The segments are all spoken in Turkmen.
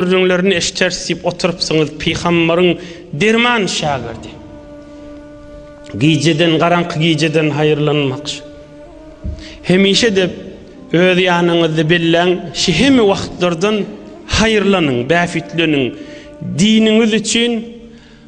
Gürrüňlerini eşiteris diýip oturypsyňyz, pygambaryň derman şägirdi. Gijeden, garaňky gijeden haýyrlanmakçy. Hemişe-de öz ýanyňyzda belläň, şihemi wagtlardan haýyrlanyň, bähbitleniň. Diniňiz üçin.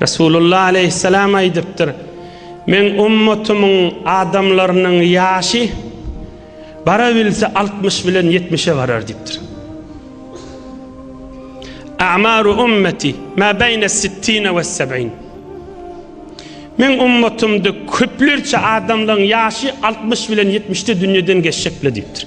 Resulullah aleýhissalam aýdypdyr, Meň ummatymyň adamlarynyň ýaşy barabilse altmyş bilen ýetmişe barar diýipdir. A'maru ummeti ma beýne sittine we seb'in. Meň ummatymda köplerçe adamlaryň ýaşy 60 bilen 70-de dünýeden geçjek bile diýipdir.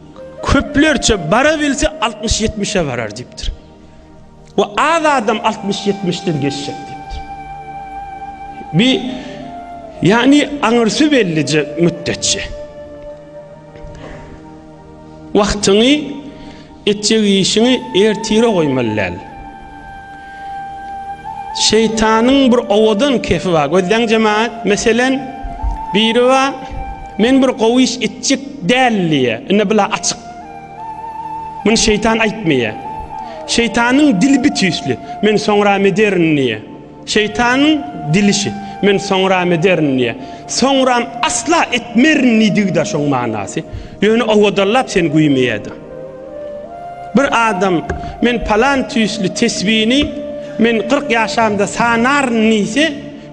Köplerçe barabilse altmyş-ýetmişe barar diýipdir. We az adam altmyş-ýetmişden geçjek diýipdir. Bi ýagny aňyrsy bellije mütdetçi. Wagtyňy etjek işiňi ertire goýmaly däl. Şeýtanyň bir owadan kefi bar. Gözleň jemaat, meselen, biri bar, men bir gowy iş etjek däl diýýär. Indi bula açyk. Muny şeýtan aýtmaýar. Şeýtanyň dili bitüýsli. Men soňram ederin diýýär. Şeýtanyň dilişi, Men soňram ederin diýýär. Soňram asla etmerin diýdigi-de şoň manasy. Ýöne owadallap seni güýmeýär-de. Bir adam Men palan tüýsli tesbini men kyrk ýaşamda sanaryn diýse,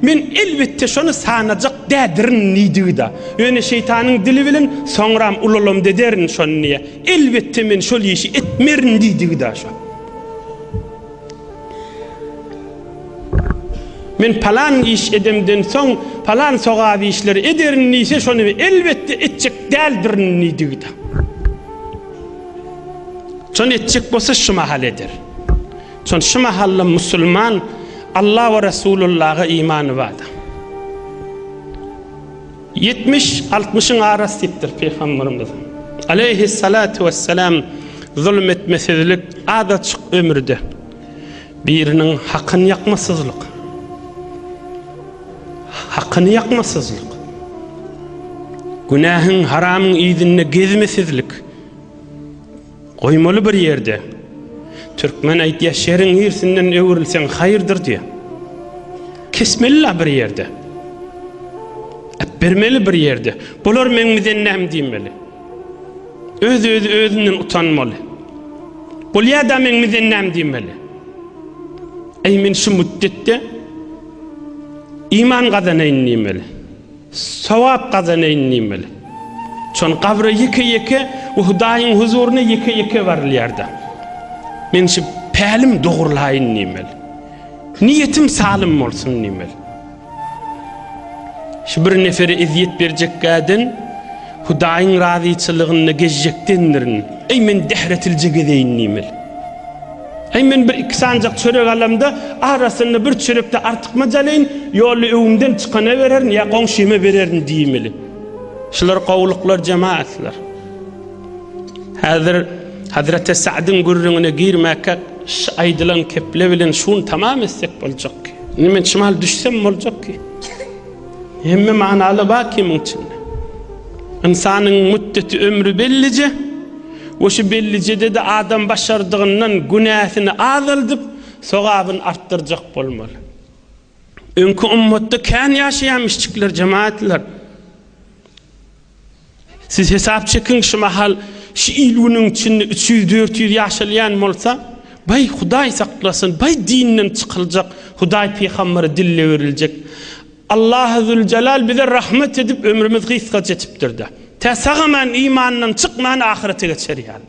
Men elbetde şony sanajak dädirin diýdigi-de. Ýöne şeýtanyň dili bilen Soňram ulalamda ederin şony diýýär. Elbetde men şol işi etmerin diýdigi-de şo. Men palan iş edemden soň, palan sogap işleri ederin diýse, şony elbetde etjek däldirin diýdigi-de. Şony etjek bolsa şu mahal eder. Şony şu mahal-da musulman Alla we Resulullaha imany bardyr. Ýetmiş, altmyşyň arasy diýipdir Pygamberimiz, aleýhis-salatu wes-selam, Zulum etmesizlik, azajyk ömürde biriniň hakyny ýakmasyzlyk. Hakyny ýakmasyzlyk. Günähiň, haramyň yzynda gezmesizlik. Goýmaly bir ýerde. Türkmen aýtýar, şeriň irsinden öwrülseň haýyrdyr diýýär. Kesmeli-la bir ýerde. Äpbermeli bir ýerde. Bular meň bize näm diýmeli. Öz-özi özünden utanmaly. Bolýa-da meň bize näm diýmeli. Eý men şu müddetde iman gazanaýyn diýmeli. Sogap gazanaýyn diýmeli. Şony gabra ýeke-ýeke we Hudaýyň huzuryna ýeke-ýeke barylýar-da. Men şu pälim dogurlaýyn diýmeli. Niýetim salym bolsun diýmeli. Şu bir nefere ezýet berjekkäden Hudaýyň razyçylygynda gezjekdendirin. Eý, men dähretilje gezeýin diýmeli. Äý, men bir iki sanjak çörek alamda, arasynda bir çörek-de artykmaç alaýyn, ýolda öwümden çykana bererin ýa goňşyma bererin diýmeli. Şular gowulyklar jemagatlar. Häzir Hazreti Sa'dyň gürrüňine girmäkkä şu aýdylan keple bilen şuny tamam etsek boljak ki. Indi men çymal düşsem boljak ki. Hemme manaly bar ki muň içinde. Ynsanyň müddeti ömri bellije, We şu bellijede-de adam başardygyndan günäsini azaldyp, sogabyny artdyrjak bolmaly. Öňki ümmatda kän ýaşaýamyşçyklar, jemaatlar. Siz hesap çekiň, şu mahal şu il-günüň içinde üç ýüz, dört ýüz ýaşalýan bolsa, baý, Hudaý saklasyn, baý dinden çykyljak, Hudaý pygamberi dille beriljek. Allahy Züljelal bize rahmet edip ömrümiz gysga çetipdirda. Tä sagaman imandan çykman ahyrete geçer ýaly.